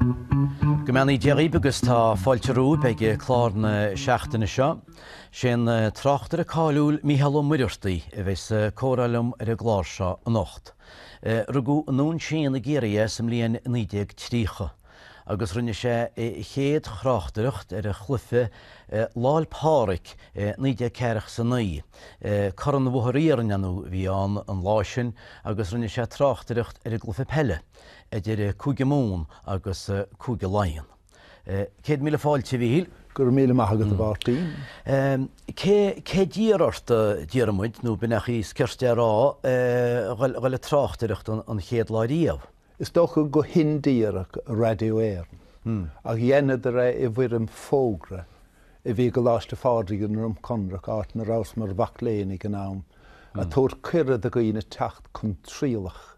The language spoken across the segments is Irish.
Go mbeannaí Dia dhaoibh agus tá fáilte romhaibh ag clár na seachtaine seo. Sé an tráchtaire cáiliúil Mícheál Ó Muircheartaigh a bheidh sa comhrá liom ar an gclár seo anocht. Rugadh i nDún Síon i gCiarraí é sa mbliain 1930 agus rinne sé a chéad thráchtaireacht ar an gcluife Lá 'l Páraic i 1949. Corn an Bhóthair Iarainn a bhí ann an lá sin agus rinne sé tráchtaireacht ar an gcluife peile. idir Cúige Mumhan agus Cúige Laighean. Céad míle fáilte, a Mhíchíl. Go raibh míle maith agat, a Mháirtín. Cé d'iarr ort, a d'iarr muid, nó b'fhéidir nach é is cirte a rá, dul ag tráchtaireacht an chéad lá riamh? Is dócha go hindíreach, Raidió Éireann, ach dheineadar é i bhfoirm fógra a bhí i gColáiste Phádraig i nDroim Conrach, áit ina rabhas mar mhac léinn ag an am, ag tabhairt cuireadh do dhaoine teacht chun trialach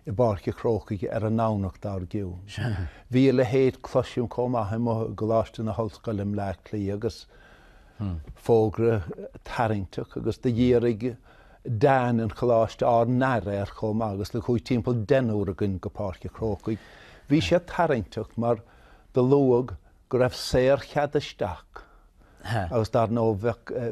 i bPáirc a' Chrócaigh ar an nDomhnach dar gcionn. Bhí a leithéid, cloisim, chomh maith i gColáiste na hOllscoile i mBleá Cliath agus fógra tarraingteach agus do dhírigh Dean an Choláiste ár n-aire air chomh maith agus do chuaigh timpeall deichniúr againn go Páirc a' Chrócaigh. Bhí sé tarraingteach mar do luadh go raibh saorchead isteach agus dar ndóigh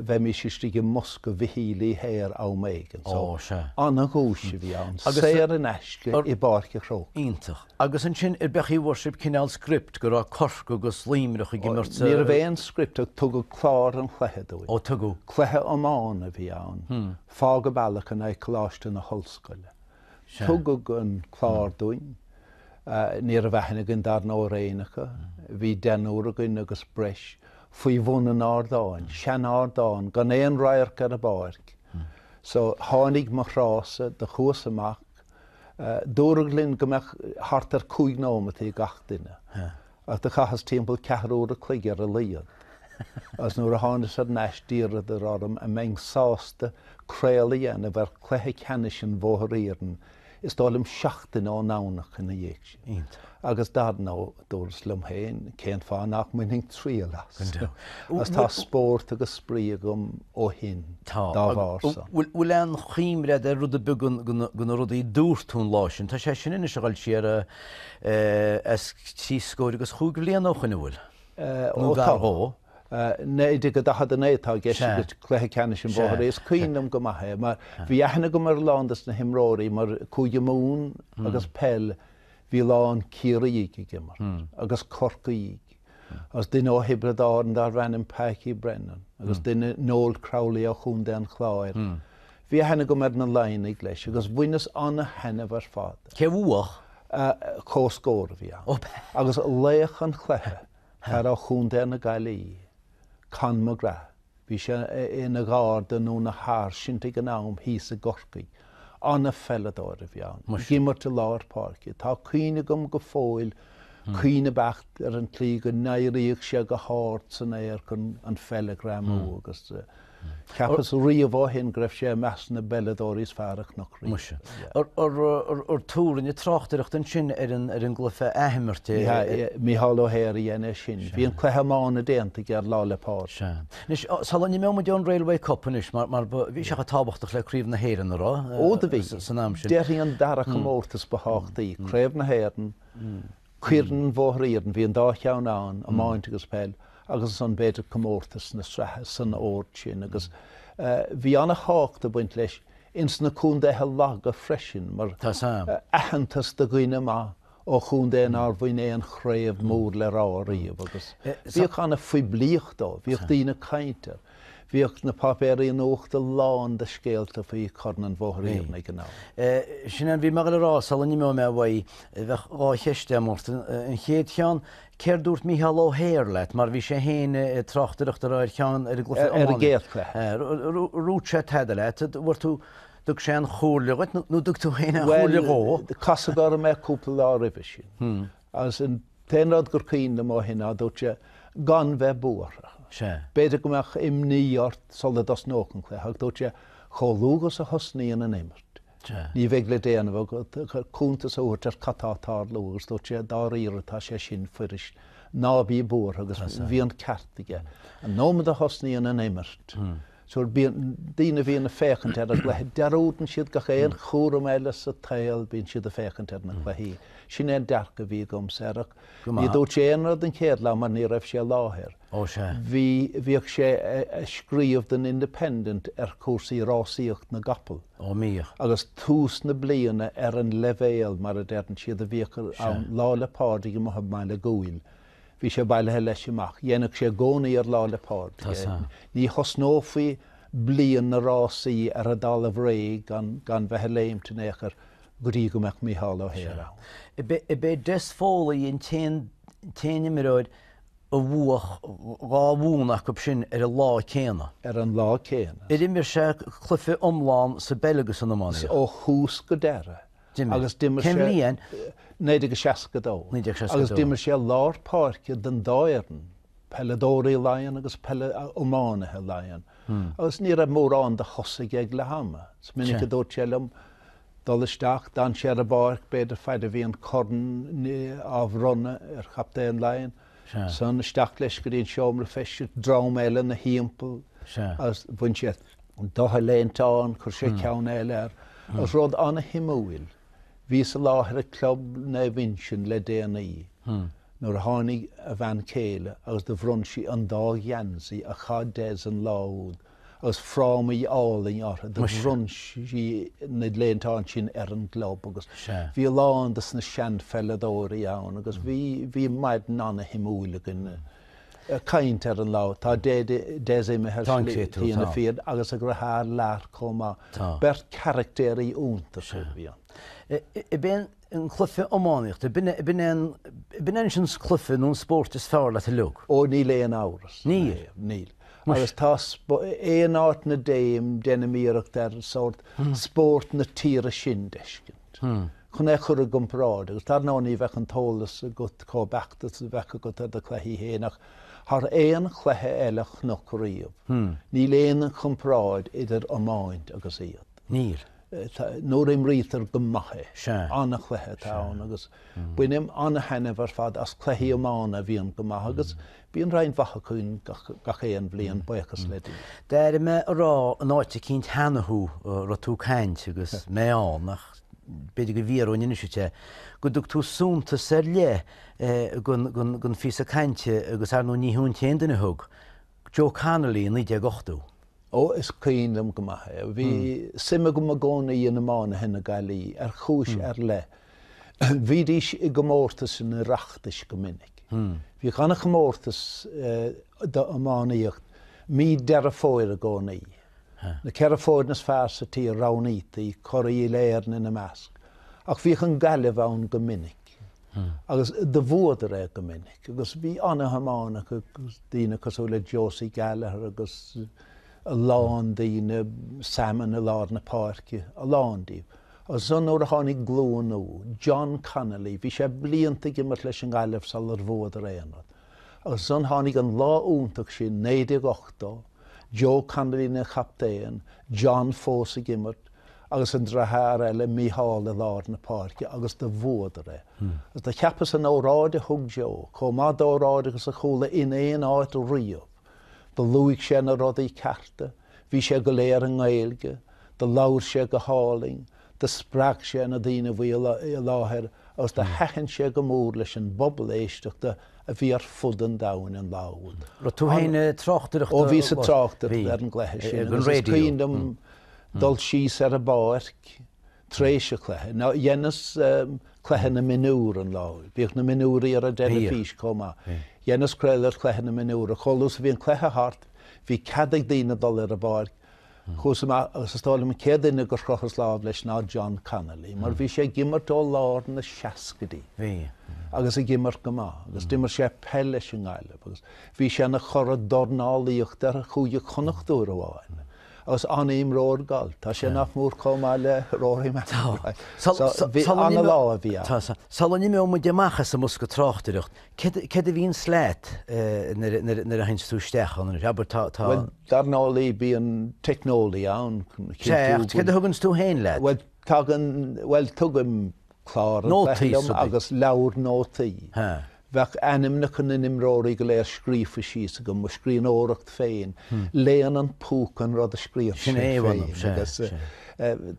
bheimís istigh i mbosca Mhichíl Uí Hehir am éigin so an-dhuais a bhí ann, saor in aisce i bPáirc a' Chrócaigh. Iontach. Agus ansin arbh é a chaoi a bhfuair sibh cineál script go raibh Corcaigh agus Luimneach ag imirt sa. Ní raibh aon script ach tugadh clár an chluiche dúinn. Ó tugadh. Cluiche iomána a bhí ann, Fág a' Bealach in aghaidh Coláiste na hOllscoile. Tugadh an clár dúinn. Ní raibh aithne againn dar ndóigh ar éinne acu. Bhí deichniúr againn agus breis faoi bhun an ardáin, sean-ardán gan aon radharc ar an bpáirc. So tháinig mo thráthsa, do chuas amach. Dúradh linn go mbeadh thart ar chúig nóimintí ag gach duine. Ach do chaitheas timpeall ceathrú uair a chloig ar a laghad, agus nuair a tháinas ar ais d'iarradar orm an mbeinn sásta craoladh a dhéanamh ar chluiche ceannais an Bhóthair Iarainn, is dóigh liom seachtain ón Domhnach ina dhiaidh sin. Iontach. Agus dar ndóigh, dúras liom féin, cén fáth nach mbainfinn triail as? Go deimhin. Agus tá spórt agus spraoi agam ó shin dá bharr san. Tá. Bhfuil aon choimread ar rud ar bith de na rudaí dúrt tú an lá sin? Tá sé sin anois ag dul siar. is trí scóir agus chúig bhliana ó shin, an bhfuil, nó gar dhó. 1949 atá i gceist agat, cluiche ceannais an Bhóthair Iarainn, is cuimhin liom go maith é, mar bhí aithne agam ar a lán de na himreoirí, mar Cúige Mumhan agus peil, bhí a lán Ciarraígh ag imirt, agus Corcaígh, agus duine ó Thiobraid Árann darbh ainm Paící Brennan, agus duine, Noel Crowley ó Chontae an Chláir, Bhí aithne agam ar na Laighnigh, leis, agus bhaineas an-thaitneamh ar fad. Cé a bhuach? Comhscór a bhí ann agus laoch an chluiche, fear ó Chontae na Gaillí, Con McGrath. Bhí sé ina Gharda nó ina Sháirsint ag an am thíos i gCorcaigh. An-pheileadóir a bhí ann, ag imirt i lár páirce. Tá cuimhne agam go fóill, cuimhne beacht, ar an tslí go n-éiríodh sé go hard san aer chun an pheil a ghreamú agus. Cheapas riamh ó shin go raibh sé i measc na bpeileadóirí is fearr a chonac riamh. Muise. Ar tú rinne tráchtaireacht ansin ar an gcluiche athimeartha? Sea, Micheál Ó hEithir a dhein é sin. Bhí an cluiche iomána déanta aige ar Lá 'le Pádraig. Sea. Anois, sula n-imeoidh muid ón Railway Cup anois, mar bhí sé chomh tábhachtach le Craobh na hÉireann, an raibh? Ó, do bhí. San am sin. Déarfainn an dara comórtas ba thábhachtaí, Craobh na hÉireann, Corn an Bhóthair Iarainn, bhí an dá cheann ann, iomáint agus peil agus ansan b'fhéidir comórtas na sraithe, san ord sin agus bhí an-thábhacht ag baint leis ins na contaetha laga freisin mar aitheantas do dhuine maith ó chontae nár bhain aon chraobh mór le rá ariamh agus bhíodh an-phoiblíocht dó, bhíodh daoine ag caint air. Bhíodh na páipéirí nuachta lán de scéalta faoi Chorn an Bhóthair Iarainn ag an am. Sin é a bhí mé ag goil a rá sula n-imeoidh mé uaidh. Bheadh dhá cheist agam ort. An chéad cheann, céard dúirt Mícheál Ó hEithir leat, mar bhí sé féin ag tráchtaireacht ar cheann, ar an gcluiche iomána. Ar an gcéad cluiche. Ar dhúirt sé tada leat, dúirt tú, dtug sé aon chomhairle dhuit nó dtug tú féin aon chomhairle dhó. Bhuel, casadh orm é cúpla lá roimhe sin. Agus an t-aon rud gur cuimhin liom ó shin, ná, dúirt sé, gan bheith buartha, b'fhéidir go mbeadh imní ort sula dtosnódh an cluiche, ach dúirt sé, chomh luath agus a thosnaíonn an imirt, ní bheidh le déanamh ach cuntas a thabhairt ar cad tá ag tarlú, agus dúirt sé, dáiríre, tá sé sin fuirist, ná bí buartha, agus bhí an ceart aige. An nóiméad a thosnaíonn an imirt, Fiú na daoine a bhíonn ag féachaint ar an gcluiche, dearúdann siad gach aon chúram eile sa tsaol, bíonn siad ag féachaint ar na cluichí. Sin é an dearcadh a bhí agamsa air ach ní dúirt sé aon rud an chéad lá mar ní raibh sé i láthair. Bhí, bhíodh sé ag scríobh don Independent ar chúrsaí rásaíocht na gcapall. Ó bhíodh. Agus tús na bliana ar an leibhéal, mar a deireann siad, a bhíodh ann, Lá 'le Pádraig amuigh i mBaile Dhúill. Bhí sé bailithe leis amach. Dhéanfadh sé i gcónaí ar Lá 'le Pádraig é. Ní thosnófaí bliain na rásaí ar an dtalamh réidh gan bheith ag léimt in aon chor go dtí go mbeadh Mícheál Ó hEithir ann. Ab é Des Foley an t-aon imreoir a bhuach dhá bhonn acu sin ar an lá céanna. Ar an lá céanna. Ar imir sé cluiche iomlán sa bpeil agus san iománaíocht? Ó thús go deireadh. agus i 1962 agus d'imir sé i lár páirce don dá fhoireann, peileadóirí Laighean agus peile iománaithe Laighean, agus ní raibh mórán de chosaí aige le ham. Is minic a dúirt sé liom, dul isteach, d'fhan sé ar an bpáirc, b'fhéidir fad a bhí an corn á bhronnadh ar chaptaen Laighean, Sea. san. Isteach leis go dtí an seomra feistis, dream eile ina thimpeall Sea. agus bhain sé de a léine ann, chuir sé ceann eile air, agus rud ana-shuimiúil, bhíos i láthair ag Club Naomh Uinseann le déanaí nuair a tháinig a bhean chéile agus do bhronn sí an dá gheansaí a chaith Des an lá úd agus frámaí álainn orthu. Do bhronn sí na léinte ansin ar an gclub agus bhí a lán de na seanpheileadóirí ann agus bhí bhí maidin an-shuimiúil againn ag caint ar an lá. Tá Des imithe Lar Foley agus a dheartháir Lar chomh maith. Beirt charachtéirí iontacha a bhí ann. an cluife iománaíochta. B'in é an cluife nó an spóirt is fearr leat uiliog. Ó, níl aon amhras. Níl? Níl. Agus tá aon áit 'na dtéim, deinim iarracht ar sórt spórt na tíre sin d'fheiscint, chun é chur i gcomparáid, agus dar ndóigh ní bheadh an t-eolas agat chomh beacht is a bheadh agat ar do chluichí féin, ach thar aon chluiche eile a chonac riamh, níl aon chomparáid idir iomáint agus iad. Níl. nuair a imrítear go maith é. Sea. An-chluiche atá ann agus bainim an-taitneamh ar fad as cluichí iomána a bhíonn go maith agus bíonn roinnt mhaith acu ann gach aon bhliain, buíochas le Dia. D'airigh mé ag rá in áit eicínt cheana thú, an raibh tú ag caint agus mé ann, ach b'fhéidir go bhfiafróinn anois díot é, go dtug tú suntas ar leith don phíosa cainte agus, ar ndóigh, ní hiontas d'aon duine a thug. Joe Connolly, 1980. Ó, is cuimhin liom go maith é. Bhí suim agam i gcónaí in iománaithe na Gaillí, ar chúis ar leith. Bhídís i gcomórtas an Oireachtais go minic. Bhíodh an-chomórtas don iománaíocht mí Deireadh Fómhair i gcónaí. Na ceithre foirne is fearr sa tír, roghnaítaí, curaidh Uile-Éireann ina measc. Ach bhíodh an Gaillimh ann go minic. agus do bhuadar é go minic agus bhí an-iománaithe acu agus daoine cosúil le Josie Gallagher agus a lán daoine Salmon i lár na páirce a lán díobh. agus san nuair a tháinig glúin nua John Connolly, bhí sé blianta ag imirt leis an Gaillimh salar bhuadar aon rud. agus san tháinig an lá iontach sin 1980, Joe Connolly ina chaptaen, John fós ag imirt, agus an deartháir eile Mícheál i lár na páirce agus do bhuadar é. Agus do cheapas an óráid a thug Joe, chomh maith d'óráid agus a chuala in aon áit riamh. Do luaigh sé na rudaí cearta, bhí sé go léir i nGaeilge, do labhair sé go hálainn, do spreag sé na daoine a bhí i láthair agus do thaitin sé go mór leis an bpobal éisteachta a bhí ar fud an domhain an lá úd. Raibh tú féin ag tráchtaireacht? Ó bhíos ag tráchtaireacht ar an gcluiche sin agus is cuimhin liom dul síos ar an bpáirc tar éis an chluiche. Ná, dheineas cluiche na mionúr an lá, bhíodh na mionúir ar an dteilifís chomh maith. Dheineas craoladh ar chluiche na mionúr ach chomh luath is a bhí an cluiche thart, bhí cead ag daoine dul ar an bpáirc. Chuas amach agus is dóigh liom an chéad duine gur chroitheas lámh leis ná John Connolly mar bhí sé ag imirt ó lár na seascaidí agus ag imirt go maith agus d'imir sé peil leis an nGaillimh agus bhí sé ina churadh dornálaíochta ar Chúige Chonnacht uair amháin. Agus an-imreoir gailf. Tá sé nach mór comh maith le Rory McIlroy. So, an-lá a bhí ann. Tá. Sula n-imeoidh muid amach as an mbosca tráchtaireachta, céard a bhíonns leat nuair a théanns tú isteach ann? Anois, abair tá, tá. Bhuel, dar ndóigh bíonn teicneolaí ann. Céard a thuganns tú féin leat? Bhuel, tagann, bhuel tugaim clár an chluiche liom agus leabhar nótaí. Bheadh ainmneacha na n-imreoirí go léir scríofa síos agam, mo scríbhneoireacht féin, léann an púca an rud a scríobhann sé féin agus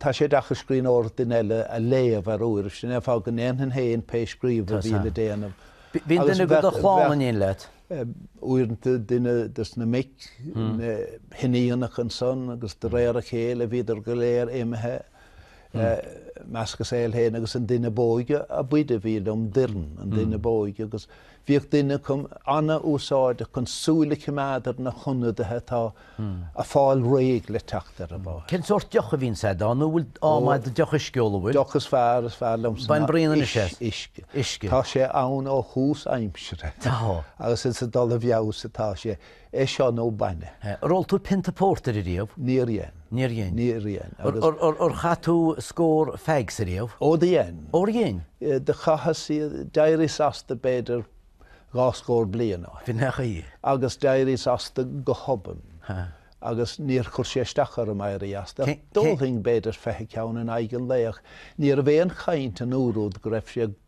tá sé deacair scríbhneoireacht duine eile a léamh ar uairibh, sin é an fáth go ndéanfainn féin pé scríobh a bhíonn le déanamh. Bhíodh duine de do chlann in éineacht leat? Uaireanta duine des na mic, na hiníonacha ansan agus de réir a chéile bhíodar go léir imithe. i measc a saol féin agus an duine b'óige ab fhaide a bhíodh liom, Doireann, an duine ab óige, agus bhíodh duine acu an-úsáideach chun súil a choimeád ar na hionadaithe atá a' fáil réidh le teacht ar an bpáirc. Cén sórt deoch a bhíonns a'd ann, nó an bhfuil am a'd deoch uisce a ól, an bhfuil? deoch is fearr, is fearr liomsa Bain ná braon anois uis, as. uisce. Uisce. Tá sé ann ó thús aimsire Tá. agus is ag dul i bhfeabhas atá sé. é seo nó bainne. Ar ól tú pionta pórtair ariamh? Níor dhein. Níor dhein. Níor dhein agus. Ar chaith tú scór feaigs ariamh? Ó dhein. Ó dhein? Do chaitheas iad, d'éirios asta b'fhéidir dhá scór bliain ó shin. Bhí nach í. Agus d'éirios asta go hobann. Ha. Agus níor chuir sé isteach orm éirí asta ach d'ólfainn b'fhéidir fiche ceann in aghaidh an lae ach ní raibh aon chaint an uair úd go raibh sé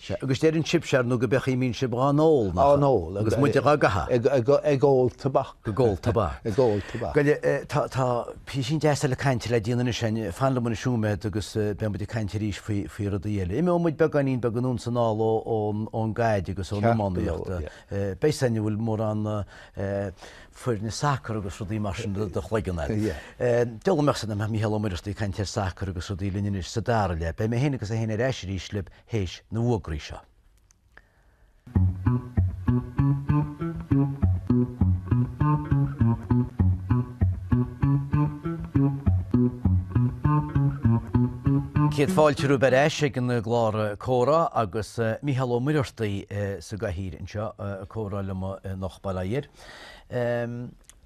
Sea, agus deireann sibse, ar ndú, gob é an chaoi a mbíonn sib 'ghá n-ól, nach 'eo? Agus muide 'ghá gcaitheadh. ag ól tobac. ag ól tobac. ag ól tobac. Gabh i leith, tá, tá písín deas eile cainte le déanamh anois a'inn. Fan liom anois nóiméad agus beidh muid ag caint arís faoi, faoi rudaí eile. Imeoidh muid beagáinín beag anonn 's anall ó, ón, ón gcaid agus ón iománaíocht. Beidh a fhios a'inn an bhfuil mórán foirne sacar agus rudaí mar sin i do chloigeann a'd. Deabhal a mbeadh a fhios a'm, a mbeadh Mícheál Ó Muircheartaigh ag caint ar sacar agus rudaí linn anois sa dara leath. Beidh mé féin agus é féin ar ais arís libh. théis na bhfógraí seo. Céad fáilte romhaibh ar ais ag an gclár Comhrá agus Mícheál Ó Muircheartaigh sa gcathaoir anseo, ag comhrá liom anocht, bail ó Dhia air.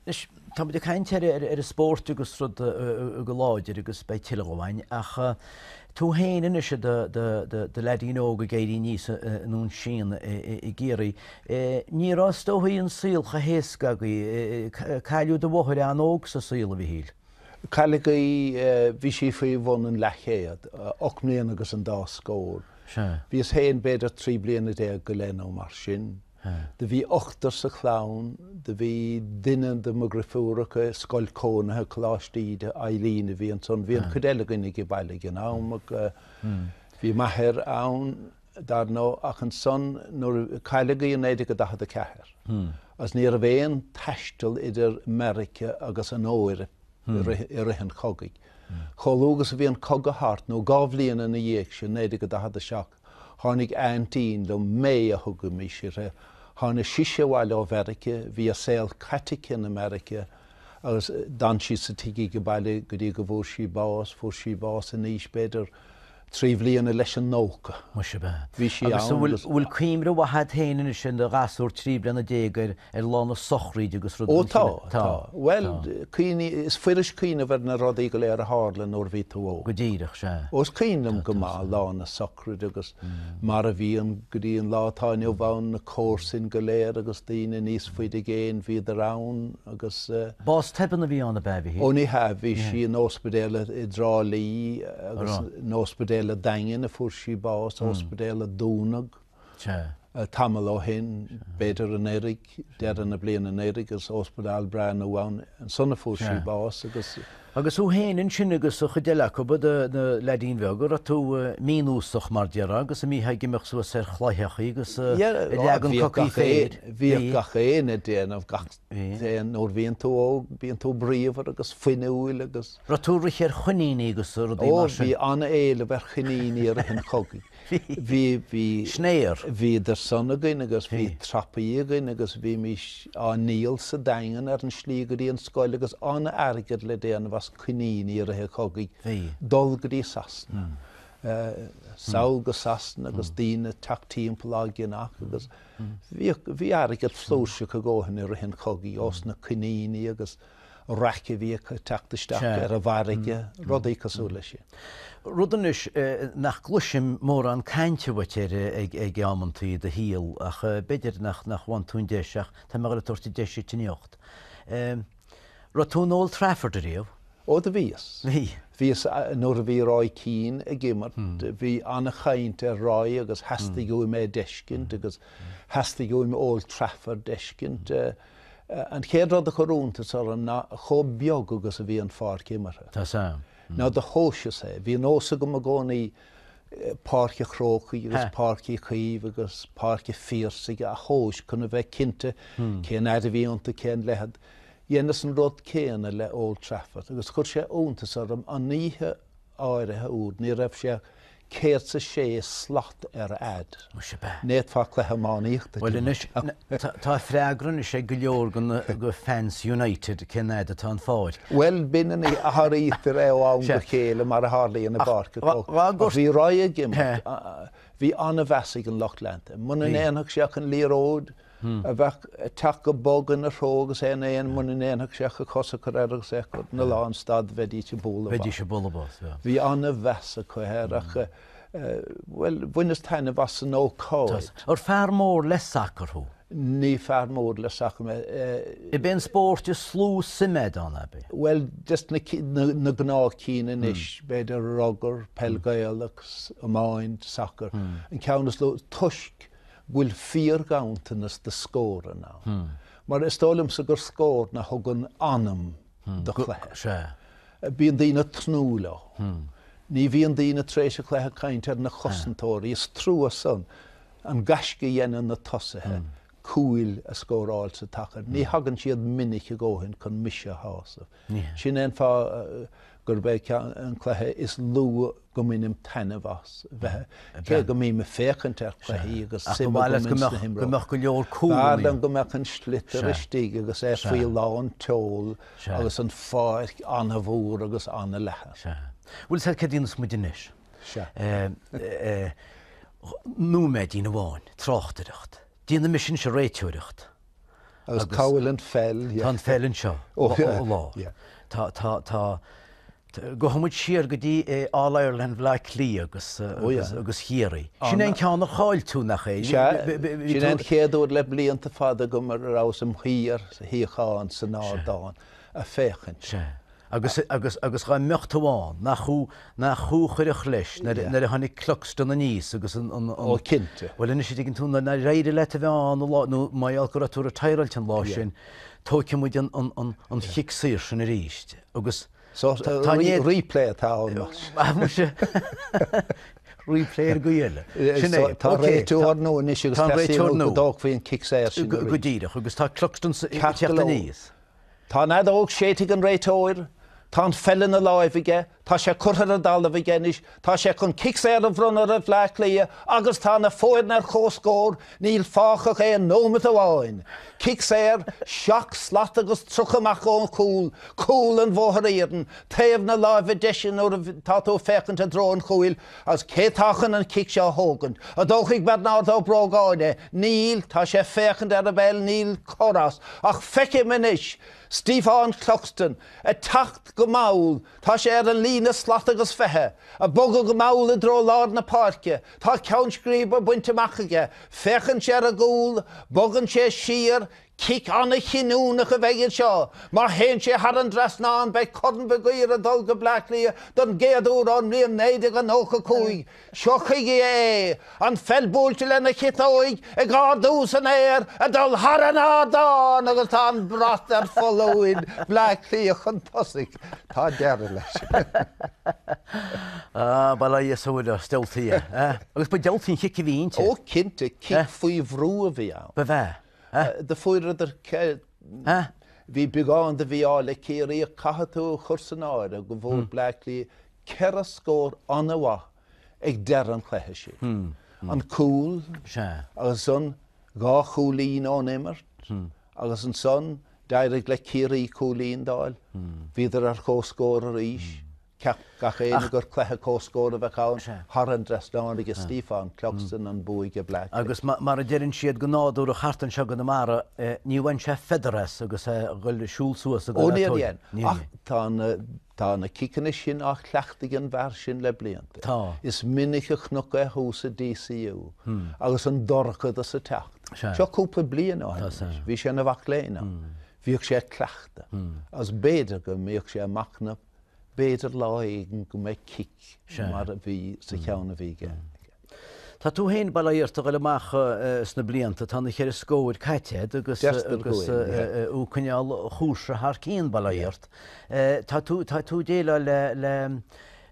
Anois, tá muid ag caint ar an spórt agus rud go láidir agus beidh tuilleadh dhó a'inn, ach tú féin anois i do leaidín óg ag éirí aníos i nDún Síon i gCiarraí, ní raibh, is dóichí, an saol chomh héasca agaibh. Cailleadh do mháthair an-óg sa saol, a Mhichíl. Cailleadh í, bhí sí faoi bhun an leathchéad, ocht mbliana agus an dá scór. Sea. Bhíos féin b'fhéidir trí bliana déag go leith nó mar sin. Do bhí ochtar sa chlann, do bhí duine de mo dhrifiúracha i scoil cónaithe Coláiste Íde, Eileen a bhí ansan, bhí an chuid eile againn ag baile ag an am, bhí m'athair ann dar ndóigh ach ansan nuair, cailleadh í i 1944 agus ní raibh aon taisteal idir Meiriceá agus an Eoraip i rith an chogaidh. Chomh luath agus a bhí an cogadh thart nó dhá bhliain ina dhiaidh sin, 1947, Tháinig aintín liom, May a thugaimís uirthi, tháinig sise abhaile ó Mheirice, bhí a saol caite aici in America agus d'fhan sí sa tigh ag baile go dtí go bhfuair sí bás, fuair sí bás in aois b'fhéidir trí bhliana leis an nócha. Muise ab ea. Bhí sí Agus an, an bhfuil, agus. an bhfuil cuimhne mhaith a'd féin anois, i do ghasúr trí bliana déag ar ar lá na sochraide agus rud Ó tá, tá. Bhuel, cuimhnigh, is fuirist cuimhneamh ar na rudaí go léir a tharla nuair bhí tú óg. Go díreach, sea. Ó is cuimhin liom go maith lá na socraide agus mar a bhí an, go dtí an lá atá inniu ann, na comharsain go léir agus daoine níos faide i gcéin, bhíodar ann agus eh, Bás tobann a bhí ann ab ea, bhí? Ó ní hea, bhí sí in óspidéal i, i dTrá Lí agus in óspidéal an Daingin a fuair sí bás, óspidéal a dúnadh. tamall ó shin, b'fhéidir anuraidh, deireadh na bliana anuraidh agus óspidéal breá nua ann, ansan a fuair sí bás agus. Agus thú fhéin ansin agus an chuid eile acub, i do leaidín beag, a raibh tú mínósach mar déarfá agus a mbítheá ag imeacht suas ar chlaíochaí agus ag leagan cocaí féir. Bhíodh gach éinne ag déanamh gach aon, nuair a bhíonn tú óg bíonn tú bríomhar agus fuinniúil agus. Raibh tú ag breith ar choiníní agus rudaí mar sin? Ó bhí an-éileamh ar choiníní i rith an chogaidh. bhí, bhí, snare, bhíodar san againn agus bhí trapaí againn agus bhímís á ndíol sa Daingean ar an slí go dtí an scoil agus an-airgead le déanamh as coiníní i rith an chogaidh, dul go dtí Sasana, sall go Sasana agus daoine ag teacht timpeall á gceannach agus bhíodh, bhí airgead flúirseach i gcónaí i rith an chogaidh ós na coiníní agus. raic a bhí ag teacht isteach ar an bhfarraige, rudaí cosúil leis sin. Rud anois nach gcloisim mórán cainte uait air ag amanntaí i do shaol ach b'fhéidir nach bhfaigheann tú an deis ach tá mé ag tabhairt an deis duit anocht. Raibh tú in Old Trafford ariamh? Ó do bhíos. Bhí. Bhíos nuair a bhí Roy Keane ag imirt. Bhí an-chaint ar Roy agus theastaigh uaim é d'fheiscint agus theastaigh uaim Old Trafford d'fheiscint. An chéad rud a chuir iontas orm ná chomh beag agus a bhí an pháirc imeartha. Tá's a'm. Nuair a thomhaiseas é, bhí nós agam i gcónaí Páirc a' Chrócaigh agus Páirc Uí Chaoimh agus Páirc a' Phiarsaigh a thomhas chun a bheith cinnte cén fhaid a bhí iontu, cén leithead. Dheineas an rud céanna le Old Trafford agus chuir sé iontas orm an oíche áirithe úd, ní raibh sé céad 's a sé slat ar fhaid. Anois ab ea? N'fhéadfá cluiche iománaíochta a Bhuel anois, tá freagra anois ag go leor de fans United cén fhaid atá an pháirc. Bhuel b'in an oíche, athraítear é ó am go chéile mar a tharlaíonn i bpáirc a Ach bhí Roy ag imirt, bhí an-mheas ag an lucht leanta. Muna ndéanfadh sé ach an liathróid, a bheadh ag teacht go bog ina threo agus é in aon, mura ndéanfadh sé ach a chos a chur air agus é a chur ina lán stad, bheidís ag bualadh bos. Bheidís ag bualadh bos, yeah. Bhí an-mheas acu air ach, bhuel, bhaineas taitneamh as an ócáid. Ar fear mór le sacar thú? Ní fear mór le sacar mé. Ab é an spórt is lú suim a'd ann, ab é? Bhuel, des na, na gnáth cinn anois, b'fhéidir rugar, peil Ghaelach, iomáint, sacar. An ceann is lú, toisc, go bhfuil fíorghanntanas de scóranna, mar is dóigh liomsa gur scóranna a thugann anam do chluiche. Bíonn daoine ag tnúth leo. Ní bhíonn daoine tar éis an chluiche ag caint ar na cosantóirí, is trua san, an gaisce a dhéanann na tosaithe cúil a scóráil sa tsacar. Ní thagann siad minic a dhóthain chun mise a shásamh. Sin é an fáth gurb é an cluiche is lú go mbainim taitneamh as, cé go mbím ag féachaint ar chluichí agus suim agam ins na himreoirí. B'fhearr liom go mbeadh an sliotar istigh agus é faoi lán tseoil agus an pháirc an-mhór agus an-leathan. Bhuel, sea, céard a dhéanfas muid anois? Nóiméidín amháin, tráchtaireacht. Déanaimis anseo réiteoireacht. Agus cá bhfuil an pheil? Tá an pheil anseo, ó lár. Tá, gabhfaidh muid siar go dtí All Ireland Bhaile Átha Cliath agus Chiarraí. Sin é an ceann ar chaill tú, nach é? Sea, sin é an chéad uair le blianta fada go rabhas im' shuí ar shuíochán, san ardán, a' féachaint. Agus, agus, agus dhá mbeadh tú ann, nach thú, nach thú a chuirfeadh leis, nuair, nuair a tháinig Cluxton aníos agus an, an, an. Ó cinnte. Bhuel anois a' dtuigeann tú, nuair nár éirigh leat a bheith ann an lá, nó mar gheall go raibh tú retireáilte an lá sin, tóigfidh muid an, an, an, an chic saor sin aríst. Agus. So, tá an éad. Replay atá ann anois. Ah, muise. Replay ar go eile. Sin é. Tá réiteoir nua anois agus tá réiteoir nua. Dóg faoin cic saor sin. Go díreach, agus tá Cluxton ag teacht aníos. Tá an fheadóg séidte ag an réiteoir. Tá an pheil ina láimh aige. Tá sé curtha ar an dtalamh aige anois. Tá sé chun cic saor a bhronnadh ar Bhleá Cliath agus tá na foirne ar chomhscór. Níl fágtha ach aon nóimeat amháin. Cic saor, seacht slat agus tríocha amach ón gcúl. Cúl an Bhóthair Iarainn. Taobh na láimhe deise nuair atá tú ag féachaint i dtreo an chúil. Is cé tá chun an cic seo a thógaint? An dtógfaidh Bearnárd Ó Brógáin é? Níl, tá sé ag féachaint ar an bpeil, níl cor as. Ach feicim anois Stiofán Cluxton ag teacht go mall, tá sé ar an líne slat agus fiche, ag bogadh go mall i dtreo lár na páirce. Tá ceann scríbe bainte amach aige. Féachann sé ar an gcúl, bogann sé siar, Cic an-chinniúnach a bheidh anseo. Má théann sé thar an dtrasnán, beidh Corn Mhig Uidhir ag dul go Bleá Cliath don gcéad uair ón mbliain 1995. Seo chuige é, an pheil buailte lena chiotóig, ag ardú san aer, ag dul thar an ardán agus tá an brat ar foluain, Bleá Cliath chun tosaigh. Tá deireadh leis. Ah, bail ó Dhia is ó Mhuire ort, diabhaltaí é. Agus ba diabhaltaí an chic a bhí inti. Ó, cinnte, cic faoi bhrú a bhí ann. Ba bhea. Do fuaireadar é. Bhí beagán de mhí-ádh le Ciarraí, ach caithfidh tú a chur san áireamh go bhfuair Bleá Cliath ceithre scór an-mhaith ag deireadh an chluiche sin. An cúl agus ansan dhá chúilín ón imirt agus ansan d'éirigh le Ciarraí cúilín d'fháil. Bhíodar ar comhscór arís. Cheap gach éinne gur cluiche comhscóir a bheadh ann thar an dtrasnán aige Stíofán, Cluxton, an bua aige Bleá. Agus mar a deireann siad go nádúrach thart anseo i gConamara, ní bhain sé feather as agus é ag dul ag siúl suas. Ó níor dhein, ach tá na ciceanna sin á chleachtadh ag an bhfear sin le blianta. Tá. Is minic a chonac é thuas sa DCU agus an dorchadas ag teacht. Seo cúpla bliain ó shin anois, bhí sé ina mhac léinn ann. Bhíodh sé ag cleachtadh agus b'fhéidir go mbíodh sé ag machnamh, b'fhéidir lá éigin go mbeidh cic mar a bhí sa cheann a bhí aige. Tá tú féin, bail ó Dhia ort, a ghoil amach sna blianta, tá na ceithre scóir caite agat agus Deirtear go bhfuil, yeah. agus thú ag coinneáil an chúrsa thar cionn, bail ó Dheirт. Tá tú, tá tú ag déileáil le, le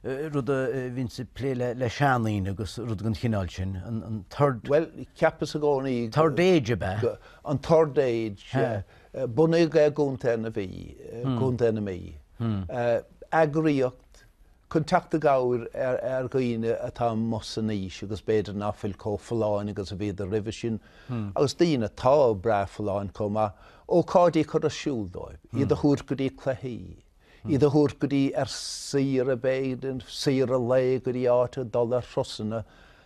eh, rud a eh, bhíonn ag plé le, le seandaoine agus rud den chineál sin, an, an third, Well, cheapas i gcónaí third age ab ea? go- an third age, Huh. yeah, Bunaíodh i gContae na Mhí, Contae na Mí, eagraíocht chun teacht i gcabhair ar dhaoine atá amuigh san aois agus b'fhéidir ná fuil chomh folláin agus a bhíodar roimhe sin, agus daoine atá breá folláin chomh maith, ócáidí a chur ar siúl dóibh, iad a thabhairt go dtí cluichí, iad a thabhairt go dtí, ar saoire b'fhéidir, saoire lae, go dtí áit ag dul ar thurasanna.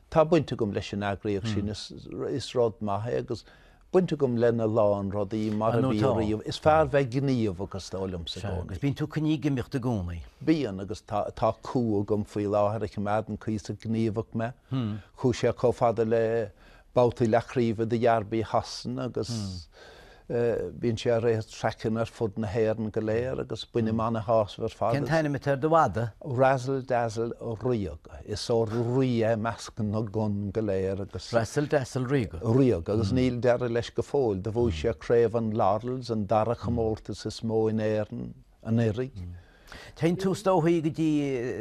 Tá baint agam leis an eagraíocht sin, is rud maith é agus. baint agam lena lán rudaí mar a bhí riamh. Is fearr bheith gníomhach is dóigh liomsa i gcónaí. Agus bíonn tú coinnithe ag imeacht i gcónaí. Bíonn, agus tá, tá cú agam faoi láthair a choimeádann cuíosach gníomhach mé. Chuaigh sé chomh fada le babhtaí leathchraoibhe de Dhearbaí Shasana agus bíonn sé ar race traiceanna ar fud na hÉireann go léir agus bainim an-shásamh ar fad as. Cén t-ainm atá ar do mhadadh? Razzle Dazzle Ríoga. Is ó rí é i measc na gcon go léir agus. Razzle Dazzle Ríoga. Ríoga, agus níl deireadh leis go fóill. Do bhuaigh sé Craobh an Laurels, an dara chomórtas is mó in Éirinn, anuraidh. Téann tú is dóichí go dtí,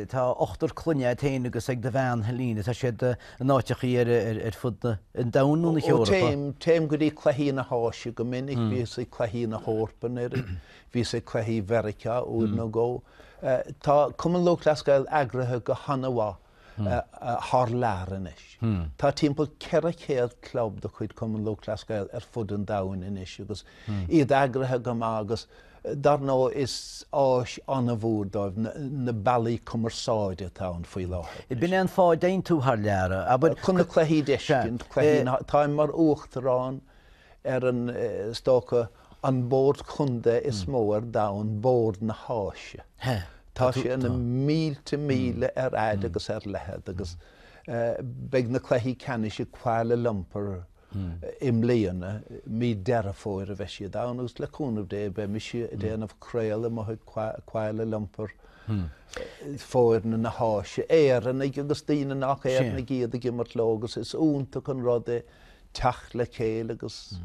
tá ochtar clainne agat féin agus ag do bhean Helena, tá siad in áiteachaí ar fud an domhain nó na hEorpa? Ó téim, téim go dtí cluichí na hÁise go minic, bhíos ag cluichí na hEorpa anuraidh, Bhíos ag cluichí Mheiriceá uair nó dhó. Tá Cumann Lúthchleas Gael eagraithe go han-mhaith thar lear anois. Tá timpeall 400 club de chuid Cumann Lúthchleas Gael ar fud an domhain anois agus iad eagraithe go maith agus dar ndóigh is áis an-mhór dóibh na bealaí cumarsáide atá ann faoi láthair. Ab in é an fáth a dtéann tú thar lear, abair. Chun na cluichí d'fheiscint, cluichí na. Táim mar Uachtarán ar an, is dócha, An bord contae is mó ar domhan bord na hÁise. Tá sé na mílte míle ar fhaid agus ar leithead agus beidh na cluichí ceannais i Kuala Lumpur i mbliana. Mí Deireadh Fómhair a bheidh siad ann agus le cúnamh Dé beidh mise ag déanamh craoladh amuigh i Kuala Lumpur, foirne na hÁise, Éireannaigh agus daoine nach Éireannaigh iad ag imirt leo agus is iontach an rud é teacht le chéile agus.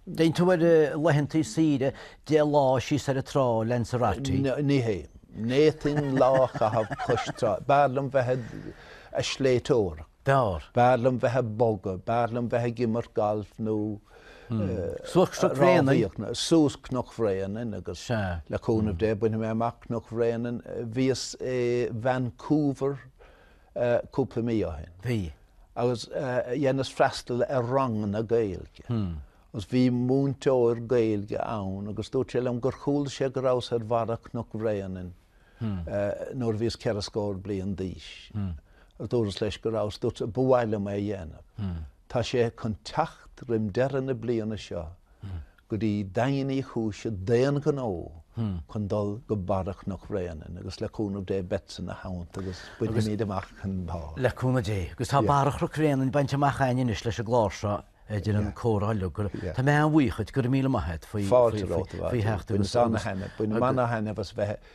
Déanann tú ar laetheanntaí saoire deich lá síos ar an trá, Lanzarote. Ní hea. N'fhéadfainn lá a chaitheamh cois trá. B'fhearr liom bheith a' sléibhteoireacht. B'fhearr. B'fhearr liom bheith a' bogadh. B'fhearr liom bheith ag imirt galf nó. Suas Cnoc Bhréanainn agus le cúnamh Dé bainfidh mé amach Cnoc Bhréanainn. Bhíos i Vancouver. cúpla mí ó shin. Bhí. Agus dheineas freastal ar ranganna Gaeilge. Agus bhí múinteoir Gaeilge ann agus dúirt sé liom gur chuala sé go rabhas ar bharra Chnoc Bhréanainn nuair a bhíos ceithre scór bliain d'aois. Dúras leis go rabhas. Dúirt sé, ba mhaith leis é a dhéanamh. Tá sé chun teacht roim deireadh na bliana seo go dtí Daingean Uí Chúis d'aon ghnó chun dul go Barra Chnoc Bhréanainn agus le cúnamh Dé beadsa ina theannta agus bainfimíd amach an barr. Le cúnamh Dé. Agus tá Barra Chnoc Bhréanainn bainte amach ainn anois leis an gclár seo, deireadh an chomhrá uilig. Tá mé an-bhuíoch dhuit, go raibh míle maith a't faoi theacht agus. Fáilte romhat a Mhattie. Bhaineas ana-thaitneamh as bheith